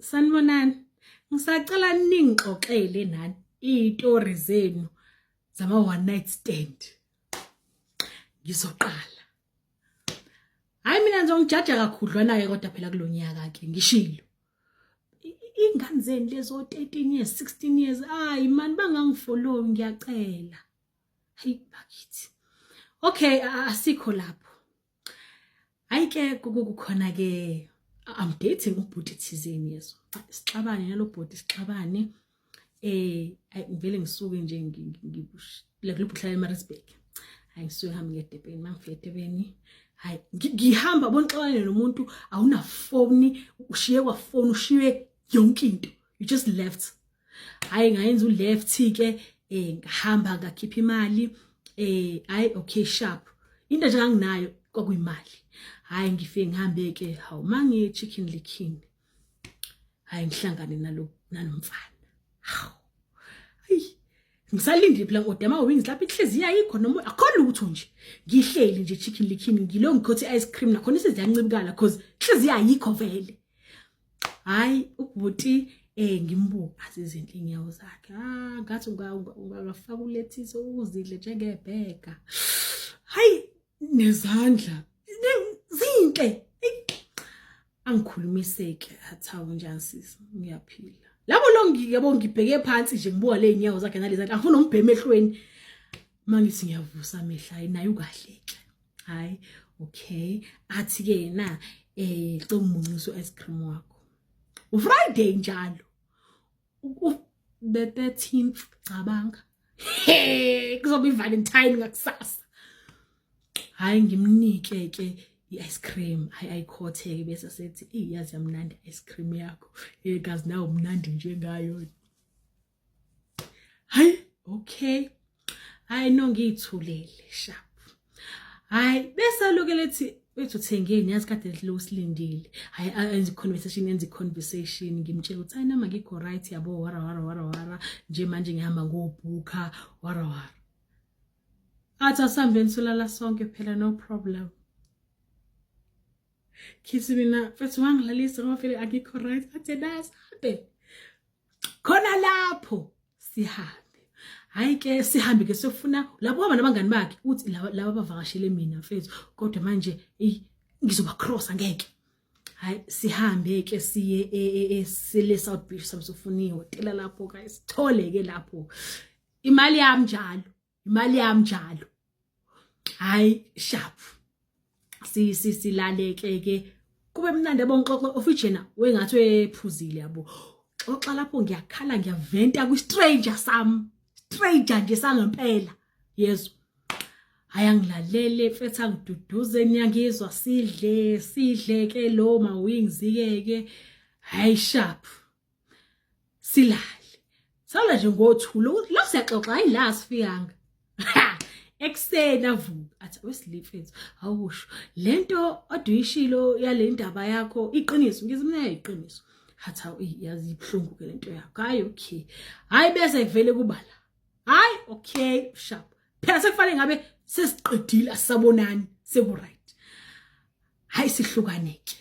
sanibonani ngisacela ningixoxele nani izitori zenu zama one night stand ngizoqala hayi mina ngizongijaja kakhudlwana-ke kodwa phela kulo nyaka-ke ngishilo iy'ngane zenu lezo 13 years 16 years ayi mani bangangifolowi ngiyacela hayi bakithi okay asikho lapho hayi ke kukukhona ke i'm dating ubhuti thizeni yeso sixabane nalo bhuti sixabane eh ayi ngivele ngisuke nje ngibushle kulobhuhlala eMaritzburg hayi ngisuke hambe ngedebheni mangifike edebheni hayi ngihamba bonixabane nomuntu awunafoni ushiye kwafoni ushiye yonke into you just left hayi ngayenza uleft ke eh ngahamba ngakhipha imali eh hayi okay sharp into nje anginayo kwakuyimali hayi ngifike ngihambe ke hawu mangi chicken liking hayi ngihlangane nalo nanomfana hawu ayi ngisalindile phela kodwa ama wings lapha inhliziyo ayikho noma akho lutho nje ngihleli nje chicken liking ngilo ngikhothi ice cream nakhona isiziyancibukala cause inhliziyo ayikho vele hayi ubhuti eh ngimbuka azizinhle inyawo zakhe ah ngathi ungafaka ulethise uzidle njengebheka hayi nezandla zinhle angikhulumiseki athawu njani sisi ngiyaphila labo lo ngiyabo ngibheke phansi nje ngibuka le nyawo zakhe nalezandla angifuna umbheme ehlweni mangithi ngiyavusa amehla naye ukahleke hayi okay athi ke na eh cela umunxiso ice cream wakho ufriday njalo bebe 13 cabanga hey kuzoba ivalentine ngakusasa hayi ngimnike ke i-ice cream hayi ayikhotheke bese sethi iyazi yamnandi i-ice cream yakho hey kazi nawo mnandi njengayo hayi okay hayi no ngiyithulele sharp hayi bese aloke lethi wethu thengeni yazi kade lo silindile hayi enze conversation enze conversation ngimtshela ukuthi hayi nama ngikho right yabo wara wara wara wara nje manje ngihamba ngobhuka wara wara athi asambeni solala sonke phela no problem khisi mina mfethu wangilalisa ngoba vele akikho right athe nasabe khona lapho sihambe hayi ke sihambe ke sofuna lapho hamba nabangani bakhe uthi laba bavakashele mina mfethu kodwa manje eyi ngizoba cross angeke hayi sihambe ke siye e, e, e, sile South Beach samsofuniwe tela lapho guys thole ke lapho imali yami njalo imali yami njalo hayi sharp sisi silaleke ke kube mnandi yabo ngixoxe ofijena wengathi wephuzile yabo xoxa lapho ngiyakhala ngiyaventa kwi stranger sam stranger nje sangempela yezwa hayi angilalele mfethu angiduduze niyangizwa sidle sidle ke lo ma wings ke ke hayi sharp silale sala nje ngothula ukuthi la siyaxoxa hayi la sifikanga ekuseni avuka athi wesilifethu awusho lento oduyishilo yale ndaba yakho iqiniso ngizimina iqiniso hatha yazi ibhlungu ke lento yakho hayi okay hayi bese kuvele kubala hayi okay sharp phela sekufanele ngabe sesiqedile asabonani seku right hayi sihlukaneke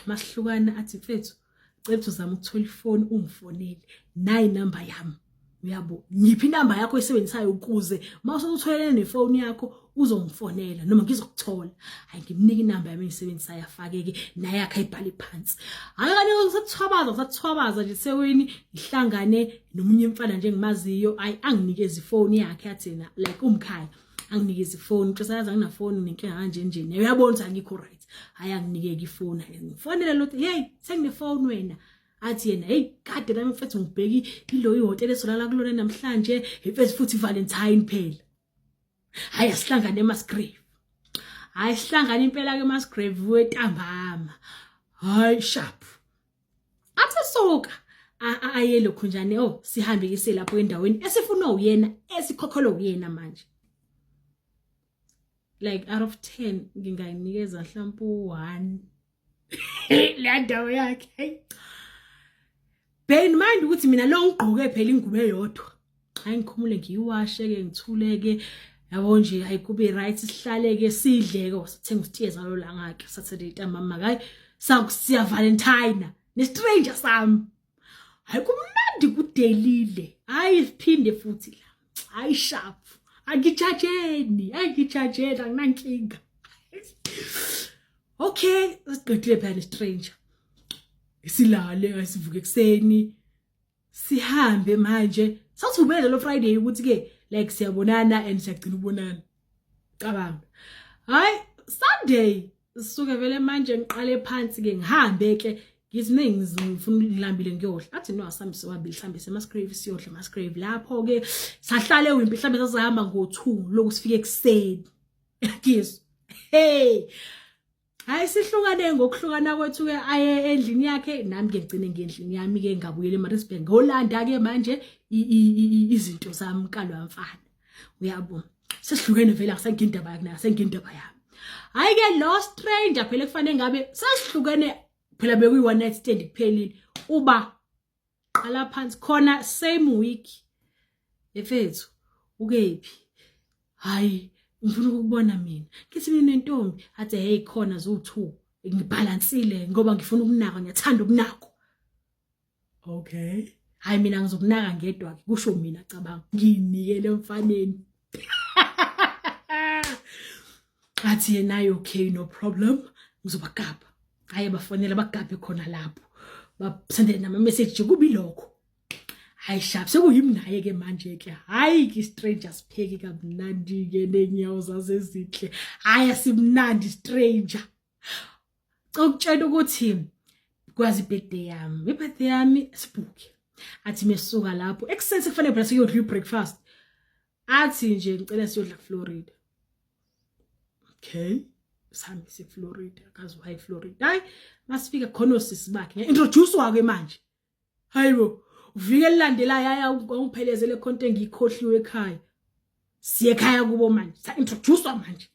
masihlukana athi mfethu cela uzama ukuthola ifoni ungifonele nayi number yami uyabo ngiphi inamba yakho oyisebenzisayo ukuze uma usutholene nefoni yakho uzongifonela noma ngizokuthola hayi ngimnika inamba yami engisebenzisayo afakeke naye akhe ayibhale phansi hayi kanye ngisathobaza ngisathobaza nje seweni ngihlangane nomunye umfana nje engimaziyo ayi anginikeza ifoni yakhe athena like umkhaya anginikezi ifoni ntosayazi anginafoni nenkinga kanje nje naye uyabona ukuthi angikho right hhayi anginikeki ifoni ngifonele lothi yeyi senginefoni wena athi yena heyi kade la mfethu ngibheki ilo ihhotela esolala kulona namhlanje imfethu futhi ivalentine phela hhayi asihlangane emasgrave hhayi sihlangane impela-ke emasgrave wetambama hhayi sharp athi soka aye lokho njani oh sihambe kise lapho endaweni esifunwa uyena esikhokholwa uyena manje like out of 10 ngingayinikeza mhlawumbe u1 le ndawo yakhe bear in mind ukuthi mina lo ngigqoke phela ingubo eyodwa hayi ngikhumule ngiyiwashe-ke ngithule-ke yabo nje hayi kube right sihlale-ke sidle-ke wasithenga usitiye zalo langa-ke saturday ntambama kayi sakusiya valentine nestranger sami hayi kumnandi kudelile hayi siphinde futhi la hayi sharp angijajeni angijajeni anginankinga okay siqedile phela nestranger silale asivuke ekuseni sihambe manje sathumele lo friday ukuthi ke like siyabonana and siyagcina ubonana cabanga hayi sunday sisuke vele manje ngiqale phansi ke ngihambe ke ngithi ningi ngifuna ngilambile ngiyodla athi no asambe siwabili hlambe semasgrave siyodla masgrave lapho ke sahlale wimpi hlambe sasihamba ngo2 lokusifike kuseni ngizwa hey hayi sihlukane ngokuhlukana kwethu ke aye endlini yakhe nami ke ngicine ngendlini yami ke ngabuyela eMaritzburg ngolanda ke manje izinto zami kalwa mfana uyabo sesihlukene vele akusengike indaba yakhe akusengike indaba yami hayi ke lo stranger phela kufanele ngabe sesihlukene phela bekuyi one night stand kuphelile uba qala phansi khona same week efethu ukephi hayi ngifuna ukubona mina ngithi mina nentombi athe hey khona zo2 ngibhalansile ngoba ngifuna ukunaka ngiyathanda ukunako okay hayi mina ngizokunaka ngedwa ke kusho mina cabanga nginikele mfaneni athi yena okay no problem ngizobagabha hayi bafonela bagabhe khona lapho basendele nama message kubi lokho hayi shap sekuyimnaye ke manje ke hayi ki stranger sipheki kamnandi ke nenyawo zazezinhle hayi asimnandi stranger cokutshela ukuthi kwazi birthday yami birthday yami sibhuke athi mesuka lapho ekuseni sekufanele phela siyodla breakfast athi nje ngicela siyodla Florida okay sami se Florida kazi why Florida hayi masifika khona osisi bakhe introduce wake manje hayibo uvike lilandelayo aya ungiphelezele khonto engiyikhohliwe ekhaya siye ekhaya kubo manje sa introduce manje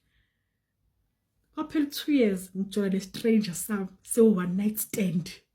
kwaphela 2 years ngithola le stranger sami se one night stand